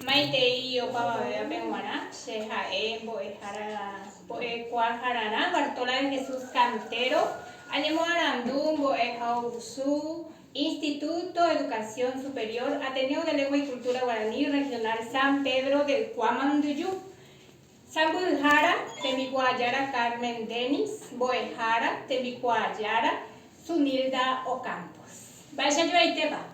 Maitei opavavévape g̃uarã, che ha'e mbo'ehára Mbo'ekuaahararã, Bartola de Jesús Cantero, añemoarandu mbo'e ha'usu Instituto Educación Superior, Ateneo de Lengua y Cultura Guaraní Regional San Pedro del Cua Manduju. Sãmbyhyhára, Tembikuaa Jára Carmen Denis, mbo'ehára, Tembikuaa Jára, Sunilda Ocampos. Mba'eichajovaitépa?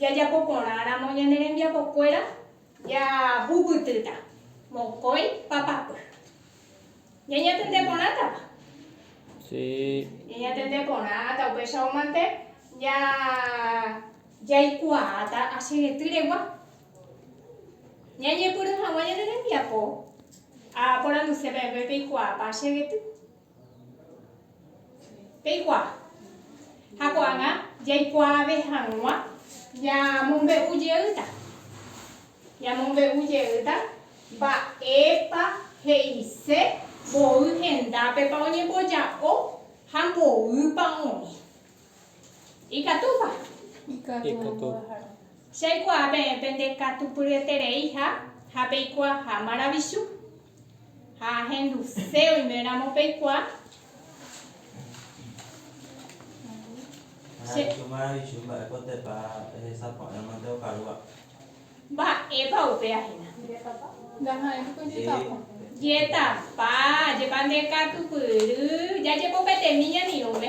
Jajapo porã ramo ñane rembiapo kuéra jahupytýta mokõi papapy. Ñañatende porãtapa? Si. Ñañatende porãta, upéicharõ mante ja jaikuaáta asyeguety regua. Ñañepyrũ haguã ñane rembiapo a poranduse peẽme peikuaápa asyeguety. Peikuaa. Ha ko'ág̃a jaikuaave hag̃ua ñamombe'u jeýta. Ñamombe'u jeýta mba'épa he'ise mboy hendápepa oñemboja'o ha mboýpa oĩ. Ikatúpa? Ikatu. Jaikuaa peẽ pendekatupyryetereiha ha peikuaaha maravichu. Ha ahenduse oime ramo peikua. Ha ahendu maravichu mba'épotepa ehesaporãmante okarúva. Mba'épa upe ahina. Jetapa, jepa nde katupyry, jajepopetemi ñanirũme.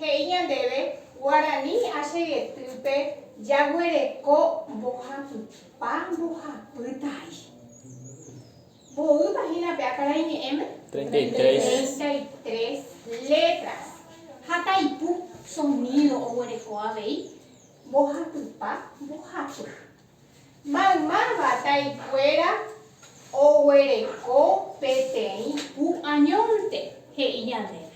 He'i ñandéve, Guarani achegetýpe jaguereko mbohapypa mbohapytai. Mboýpa hína pe akarai ñe'ẽme? Treinta y tres letras. Ha taipu sonido oguereko avei mbohapypa mbohapy. Maymáva taikuéra oguereko peteĩ ku añónte, he'i ñandéve.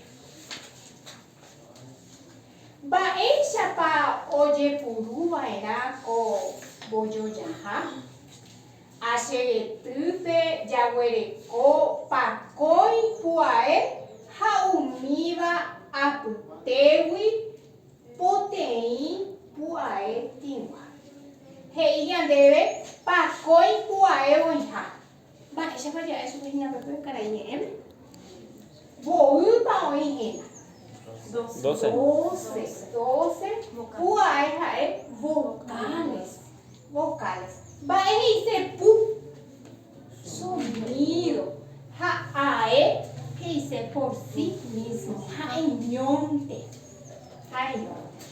Mba'éichapa ojepuru va'erã ko mbojojaha? Acheretýpe jaguereko pakõi puae ha umíva apytégui Poteĩ pu'ae tĩgua. He'i ñandéve pakõi pu'ae voĩha. Mba'éichapa ja'e chupe hína pe pe karai ñe'ẽme? Mboýpa oĩ hína? Doce. Doce pu'ae ha'e vocales. Mba'e he'ise pu? Sonido, ha ae he'ise por si mismo, ha'eñónte, ha'eñónte.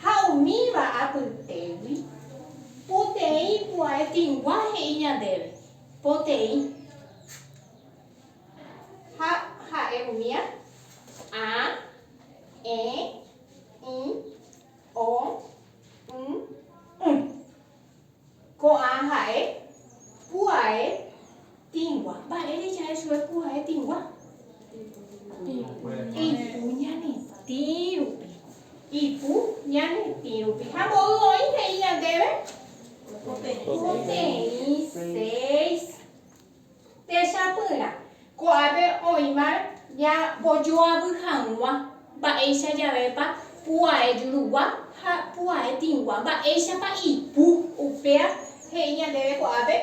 Ha umíva apytégui, poteĩ pu'ae tĩgua he'i ñandéve, poteĩ. Ha ha'e umía, a, e, i, o, y, y. Ko'ã ha'e pu'ae tĩgua. Mba'ére ja'e chugui pu'ae tĩgua? Ipu ñanetĩ rupi. Ipu ñanetĩ rupi. Ha mboy oĩ he'i ñandéve? Poteĩ, seis. Techapyrã, ko'ápe oĩ mar ñambojoavy hag̃ua mba'éicha javépa pu'ae jurugua ha pu'ae tĩgua, mba'éichapa ipu. Upéa he'i ñandéve ko'ápe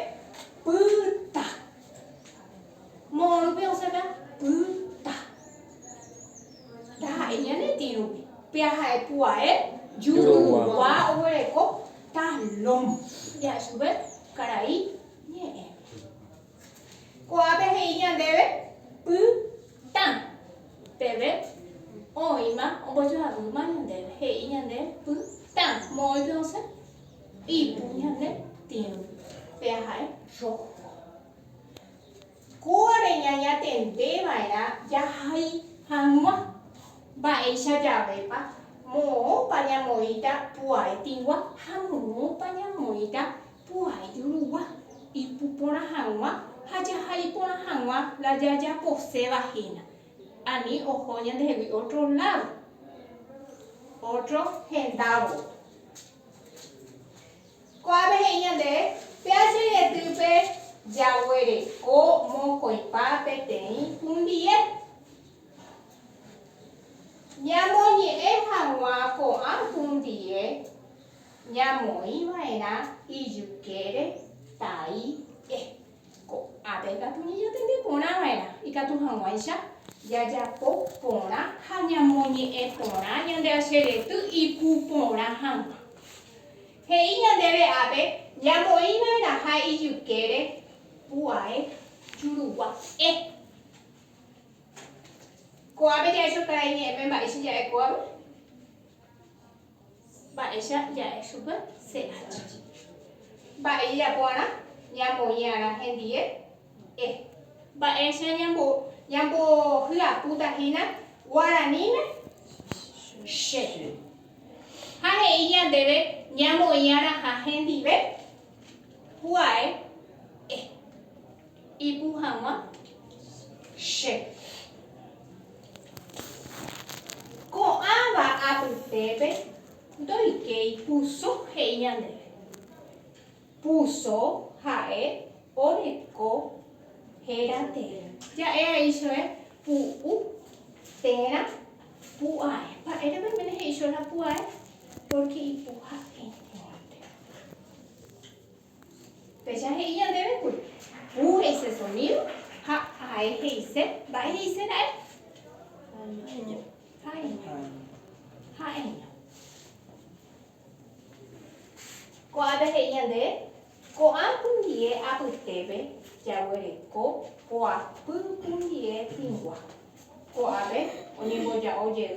pyta. Moõrupi osẽta pyta. Ndaha'éi ñane tĩ rupi. Péa ha'e pu'ae jurugua oguereko talón. Jahechápe karai. Ñe'ẽ. Ko'ápe he'i ñandéve py tã. Peve oĩma ombojoavýma ñandéve, he'i ñande py tã. Moõipe osẽ ipu ñande tĩgui, pea ha'e roho. Kóva reñañatende va'erã jahai hag̃ua. Mba'éicha javépa, moõpa ñamoĩta pu'ae tigua ha moõpa ñamoĩta pu'ae jurugua, ipu porã hag̃ua ha jahai porã hag̃ua la jajaposéva hína. Ani oho ñandehegui ótro ládo, ótro hendávo. Ko'ápe he'i ñande, Péa che ryetýpe jaguereko mokõipa peteĩ hundie. Ñamoñe'ẽ hag̃ua ko'ã hundie ñamoĩ va'erã ijykére tai. Ko'ápe ikatu ñajatende porã va'erã ikatu hag̃uáicha jajapo porã ha ñamoñe'ẽ porã ñande acherety ipu porã hag̃ua. He'i ñandéve ápe ñamoĩ va'erãha ijykére pu'ae jurugua e. Ko'ápe jahecho karai ñe'ẽme mba'éicha ja'e kóvape. Mba'éicha ja'e chupe CH. Mba'e jajapo'arã ñamoĩ'arã hendie E. Mba'éicha ñambohyapúta hína guaraníme Che. Ha he'i ñandéve ñamoĩ'arãha hendive Juae E. Ipu hag̃ua che. Ko'ãva apytépe ndoikéi puso he'i ñandéve. Puso ha'e oreko héra térã. Ja'e aíchove pu'u térã pu'ae. Mba'érepa oiméne he'i chóla pu'ae? Pórke ipu ha'e ñe'ẽva térã. Péicha he'i ñandéve kuri, Pu he'ise sonído, ha ae he'ise, mba'e he'ise ra'e? Ha'eño. Ha'eño. Ha'eño. Ko'ápe he'i ñandéve, Ko'ã pundie apytépe jaguereko koapy pundie hĩngua. Ko'ápe oñemboja'o jey.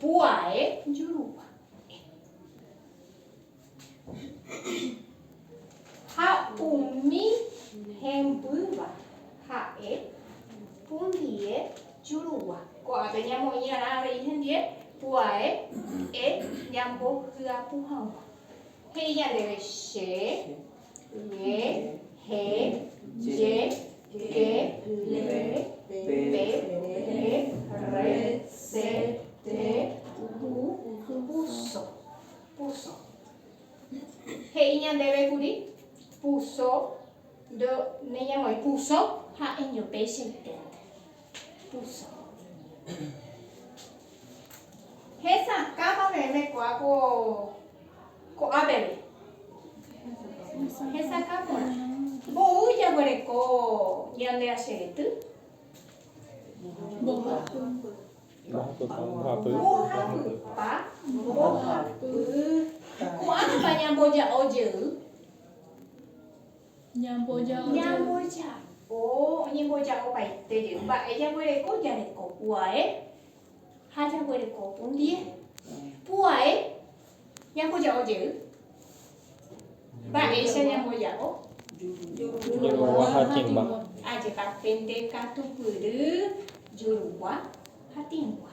Pu'ae jurupa. Ha umi hembýva ha'e pundie jurugua. Ko'ápe ñamoĩ'arã avei hendie pu'ae e ñambohyapu hag̃ua. He'i ñandéve, Che. Ñe, he, je, ke, le, pe, re, rre, se, te, pu, puso, puso. He'i ñandéve kuri, Puso, ndoneñamoĩ, puso ha'eño péicha iténte. Hesakãpa peẽme ko'a ko ko'a peve. Hesakã porã. Mbou jaguereko ñande acherety. Mbohapypa. Mbohapypa. Mbohapy. Ko'ág̃apa ñamboja'o jey. Ñamboja'o oñemboja'opaite jey mba'e jaguereko, jareko puae ha jaguereko pundie. Puae ñamboja'o jey, mba'éicha ñamboja'o? Jurugua ha tĩgua. Ajépa pende katupyry jurugua ha tĩgua.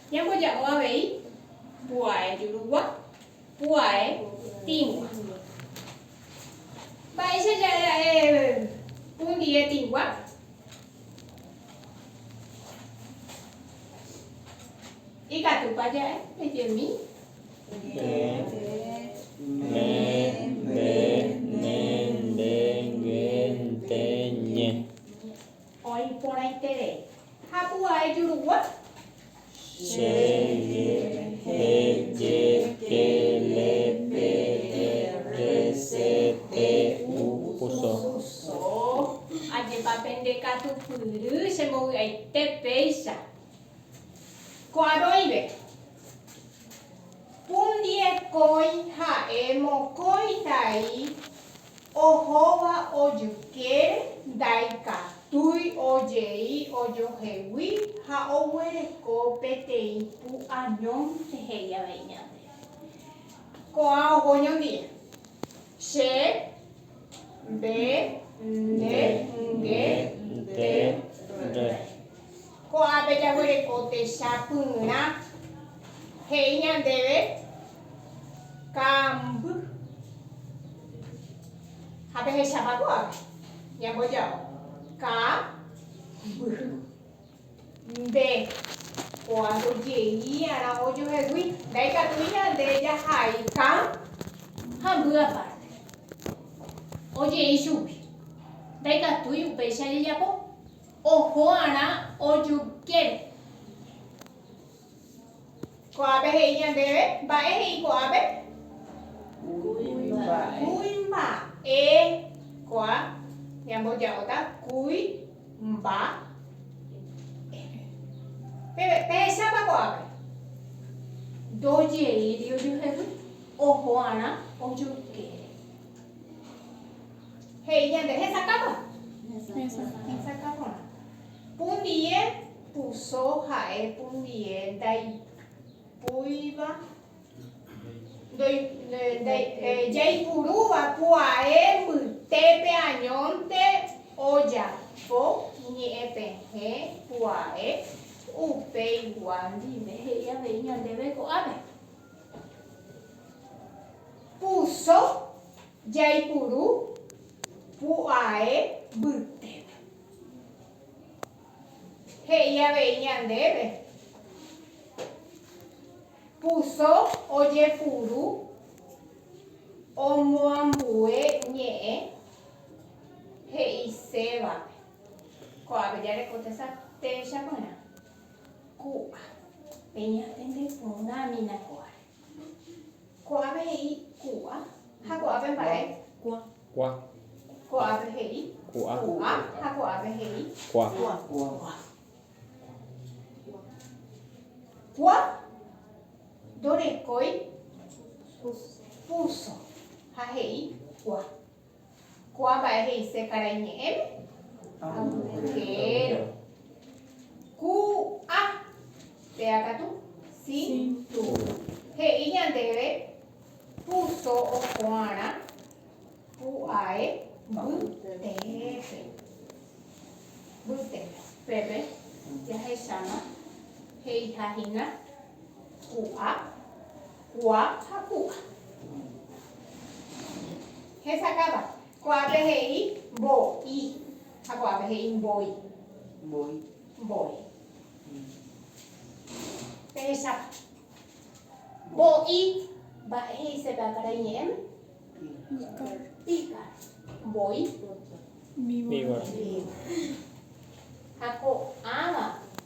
Ñamboja'o avei pu'ae jurugua, pu'ae tĩgua. Mba'éicha ja'e pundie tĩgua? Ikatúpa ja'e? Pejemi. Nde, ne, nde, ne, nde, nge, nte, ñe. Oĩ porãiterei. Ha pu'ae jurugua. Che ry he je ke le pe e re se te u pu so. So. Ajépa pende katu pyry che mbovy'aite péicha. Ko aroive. Pundie kói ha'e mokói tai. Ohóva ojykére ndaikatúi ojei ojohegui ha oguereko peteĩ pu añón rehegui avei ñandéve. Ko'ã oho ñondive. Che, nde, nde, nge, nte, re. Ko'ápe jaguereko techapyrã he'i ñandéve kamby. Ha pehechápa ko'ápe? Ñamboja'o ka mbyhy. Nde, ko'a ndojeí'arã ojohegui. Ndaikatúi ñande jahai ka hamby apárte. Oje'i chugui. Ndaikatúi upéicha jajapo. Oho'arã ojukére. Ko'ápe he'i ñandéve. Mba'e he'i ko'ápe? Kuimba'e. Ko'a ñamboja'óta kúi mba e. Pehechápa ko'ápe? Ndojeíri ojuhegui. Oho'arã ojukére. He'i ñande, Hesakãpa. Hesakã porã. Pundie puso ha'e pundie ndaipúiva, jaipurúva pu'ae mbytépe añónte ojapo ñe'ẽpehẽ pu'ae upeigua ndive he'i avei ñandéve ko'ápe. Puso jaipuru pu'ae mbytépe. He'i avei ñandéve, Puso ojepuru omoambue ñe'ẽ he'isévape. Ko'ápe jareko tesa teecha porã, ku'a, peñatende porãmina ko'áre. Ko'ápe he'i ku'a. Ha ko'ápe mba'e? Kua. Ko'ápe he'i ku'a. Ku'a. Ha ko'ápe he'i kua. Kua. Kua ndorekói púso ha he'i kua. Ko'ã mba'e he'ise karai ñe'ẽme? Agujero. Ku, a. Péa katu? Si, tu. He'i ñandéve, Ku, so, oko'arã, ku, ae, by, teépe. Byte. Pépe jahecháma he'iha hína. Ku'a, kua ha ku'a. Hesakáva. Kuápe he'i mbo i ha kuápe he'i mboi. Mboi. Mboi. Pehechápa. Mbo i mba'e he'isépe ákarai ñe'ẽme? Píkaro. Píkaro. Mboi. Víbora. Víbora. Ha ko'ãva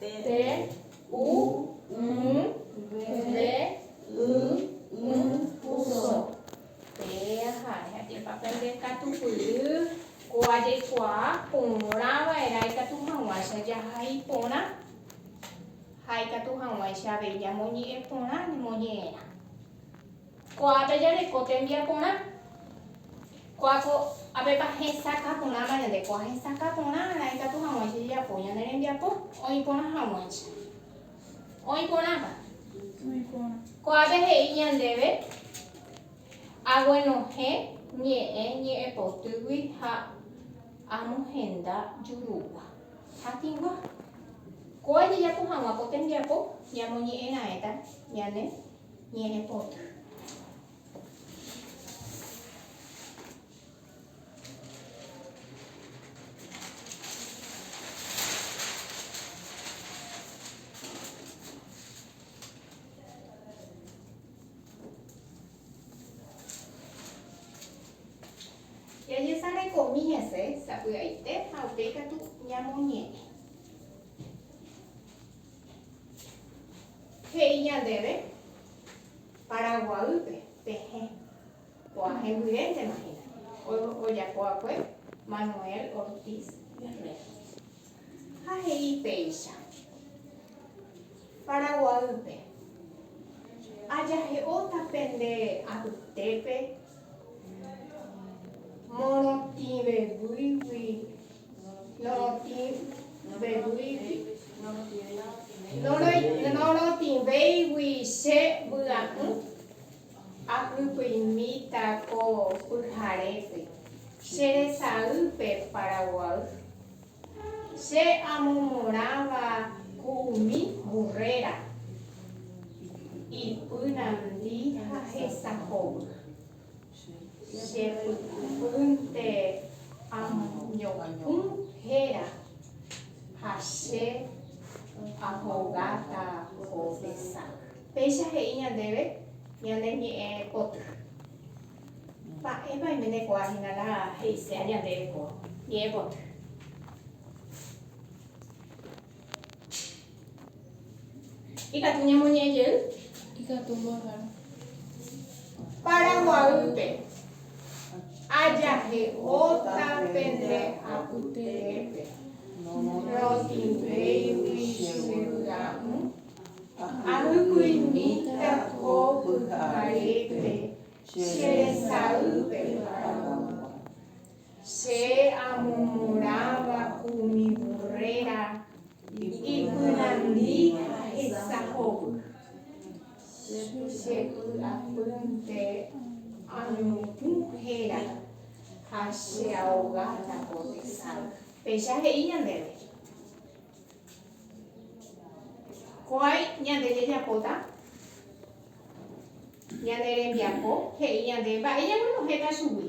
T, u, ũ, ve, y, ỹ, uso. T, aha, reha'épa pe nde katupyry ko ajaikuaa porã va'erã ikatu haguãicha jaha iporã ha ikatu haguãicha avei ñamoñe'ẽ porã ñemoñe'ẽrã. Ko'ápe jareko tembiaporã. Ko'áko apepa hesakã porãma ñande. Ko'ã hesakã porã raẽ katu haguãicha jajapo ñane rembiapo oĩ porã haguãicha. Oĩ porãpa? Oĩ porã. Ko'ápe he'i ñandéve aguenohẽ ñe'ẽ ñe'ẽpotýgui ha amohenda jurúgua. Hatĩgua. Kóa jajapo haguã ko tembiapo ñamoñe'ẽ raẽta ñane Ñe'ẽpota. Jajesarekomi hese sapy'aite ha upéi katu ñamoñe'ẽ. He'i ñandéve Paraguaýpe pehẽ ko'ã hembyréntema hína, ojapova'ekue Manuel Ortiz Guerrero. Ha he'i péicha, Paraguaýpe ajahe'óta pende apytépe morotĩveguýgui Norotĩvéigui che vy'a'ỹ, apypyimíta ko pyharépe, che resaýpe Paraguay. Che amomorãva ku umi burréra, ipy nandi ha hesahovy. Jepy'apýnte amoñepũ héra ha che ahogáta ko mesa. Péicha he'i ñandéve ñane ñe'ẽ poty. Mba'épa oimendekuaa hína la he'ise ñandéve ko ñe'ẽ poty? Ikatu ñamoñe'ẽ jey. Ikatu mboyvárõ. Paraguaýpe. Ajahe'óta pende apytépe. Rotĩvéigui che vy'a'ỹ. Ahykuimíta ko pyharépe che resa'ýpe Paraguái. Che amomorãva umi vurréra ipyrandi hesahovy, che py'apýnte añopũ héra ha che ahogáta ko tesape. Péicha he'i ñandéve, Ko aĩ ñande jajapóta ñane rembiapo, he'i ñande mba'e ñaguenohẽta chugui.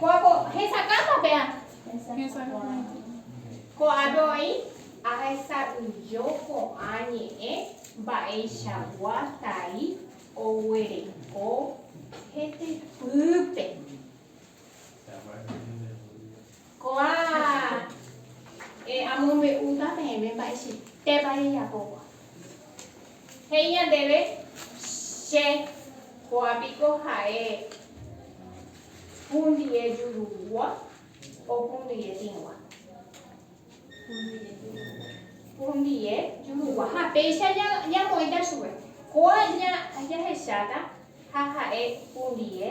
Ko'ágõ hesakãta péa. Ko'ápe oĩ. Ahesa'ỹijo ko'ã ñe'ẽ mba'eichagua tai oguereko hetepýpe. Ko'ã e amombe'úta peẽme mba'eichaitépa rejapóva. He'i ñandéve che, ko'ã piko ha'e hundie jurúgua o hundie tĩgua? Hundie jurúgua. Ha péicha ñamoĩta chupe, ko'ã jahecháta ha ha'e hundie.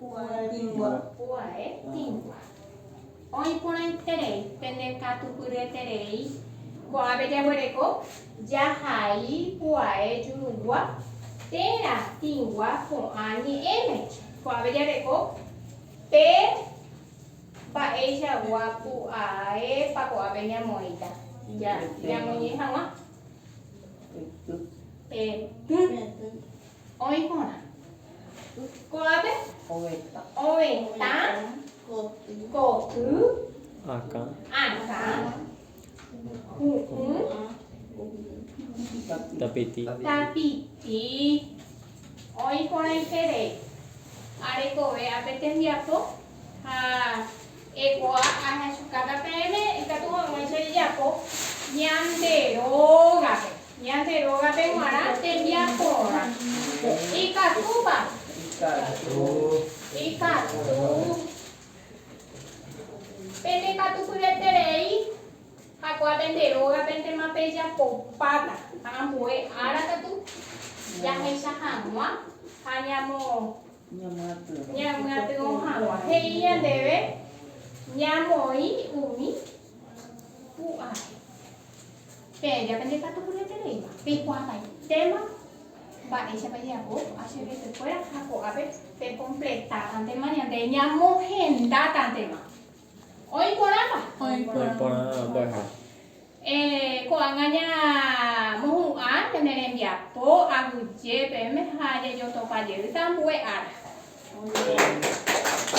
Pu'ae tingua. Pu'ae tingua. Oĩ porãiterei pende katupyryeterei. Ko'ápe jaguereko jahai pu'ae jurugua térã tingua ko'ã ñe'ẽme. Ko'ápe jareko pe mba'eichagua pu'aépa ko'ápe ñamoĩta ñamoñe'ẽ hag̃ua. Pe ty. Oĩ porã. Ko'ápe ovetã koty, akã, hu'ũ, tapiti. Oĩ porãiterei. Arekove ape tembiapo ha. Eikuaa ahechukáta peẽme ikatu hag̃uáicha ejapo ñande rógape, ñande rógape g̃uarã tembiaporã. Ikatúpa? Ikatu. Ikatu. Pende katupyreterei jakuaa pende rógapentema pejapopáta, ha ambue ára katu jahecha hag̃ua ha ñamo Ñamyatyvõ hag̃ua. He'i ñandéve ñamoĩ umi pu'ae. Peẽ ja pende katu puraitereíva, peikuaavaitéma mba'éichapa jejapo HBTkuéra ha ko'ápe pekompletátantema ñande ñamohendátantema. Oĩ porãpa? Oĩ porã mbo'eha. Ko'ág̃a ñamohu'ã pene rembiapo aguyje peẽme ha jajotopa jeýta ambue ára.